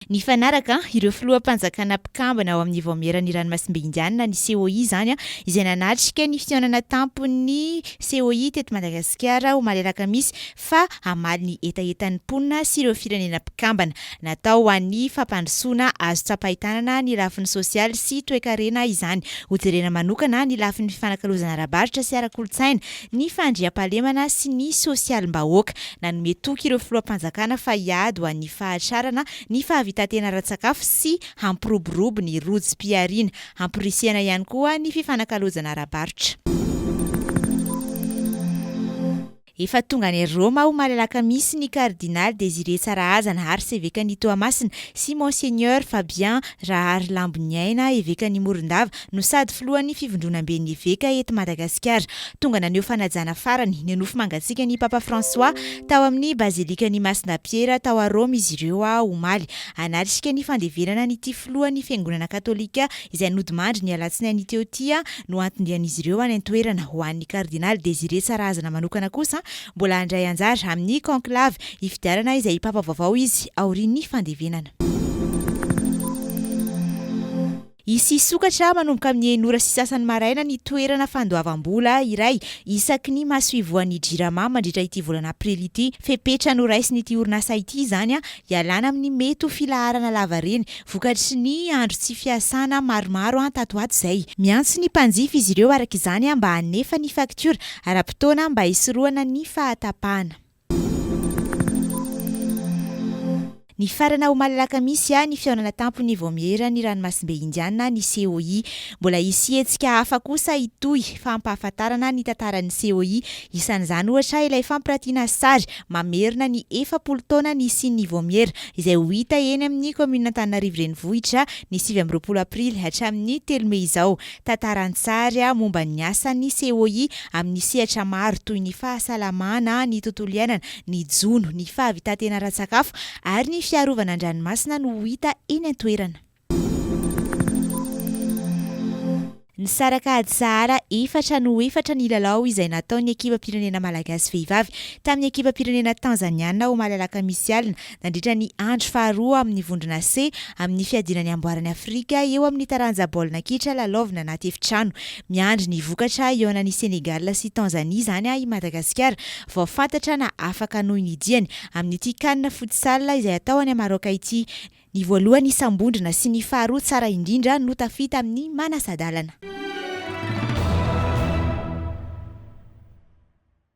Nifanaraka ireo filoham-panjakana mpikambana ao amin'ny Vaomieran'ny Ranomasimbe Indianina ny COI izany, izay nanatrika ny fihaonana tampon'ny COI teto Madagasikara omaly alakamisy, fa hamaly ny hetahetan'ny mponina sy ireo firenena mpikambana. Natao ho an'ny fampandrosoana azo tsapain-tanana ny lafiny sosialy sy toekarena izany, hojerena manokana ny lafiny fifanakalozana ara-barotra sy ara-kolontsaina, ny fandriampahalemana sy ny sosialim-bahoaka. Nanome toky ireo filoham-panjakana fa hiady ho an'ny fahatrarana ny fahavitantena ara-tsakafo sy hampiroborobo ny rojom-pihariana. Hamporisihana ihany koa ny fifanakalozana ara-barotra. Efa tonga any Roma omaly alakamisy ny Kardinaly Désiré Tsarahazana, Arsevekan'i Toamasina, sy Monseigneur Fabien Rahary Lamboniaina, Evekan'i Morondava, no sady filohan'ny fivondronamben'ny eveka eto Madagasikara. Tonga naneho fanajana farany ny nofy mangatsiaka ny Papa François tao amin'ny bazilikan'i Masina Piera tao à Rome izy ireo a omaly hanatrika ny fandevenana an'ity filohan'ny fiangonana katolika izay nodimandry ny alatsinainy teo ity a no antondian'izy ireo any an-toerana ho an'ny kardinaly Désiré Tsarahazana manokana kosa mbola handray anjara amin'ny conclave hifidianana izay Papa vaovao izy aorian'ny fandevenana. Hisy hisokatra manomboka amin'ny enina ora sy sasany maraina ny toerana fandoavam-bola iray isaky ny masoivohon'ny Jirama mandritra ity volana aprily ity. Fepetra noraisin'ity orinasa ity izany hialana amin'ny mety ho filaharana lavareny vokatry ny andro tsy fiasana maromaro tato ho ato izay. Miantso ny mpanjifa izy ireo araka izany mba hanefa ny faktiora ara-potoana mba hisorohana ny fahatapahana. Nifarana omaly alakamisy ny fihaonana tampon'ny Vaomieran'ny Ranomasimbe Indiana ny COI. Mbola hisy hetsika hafa kosa hitohy hampahafantarana ny tantaran'ny COI. Isan'izany ohatra ilay fampiratiana sary mamerina ny efapolo taona nisian'ny Vaomiera izay ho hita eny amin'ny kaominin'Antananarivo Renivohitra ny sivy amby roapolo aprily hatramin'ny telo mey izao. Tantara an-tsary momba ny asan'ny COI amin'ny sehatra maro toy ny fahasalamana, ny tontolo iainana, ny jono, ny fahavitantena ara-tsakafo ary ny fiarovana an-dranomasina no ho hita eny an-toerana. Nisaraka ady sahara efatra no efatra ny lalao izay nataon'ny ekipam-pirenena malagasy vehivavy tamin'ny ekipam-pirenena tanzaniana ao Malalakamisy alina nandritra ny andro faharoa amin'ny vondrona C amin'ny fiadiana ny amboaran'i Afrika eo amin'ny taranja baolina kitra lalaovina anaty efitrano. Miandry ny vokatra hihaonan'i Sénégal sy Tanzanie izany i Madagasikara vao fantatra na afaka hanohy ny diany amin'ity Can Futsal izay hatao any Maroc ity. Ny voalohany isam-bondrona sy ny faharoa tsara indrindra no tafita amin'ny manasa-dalana.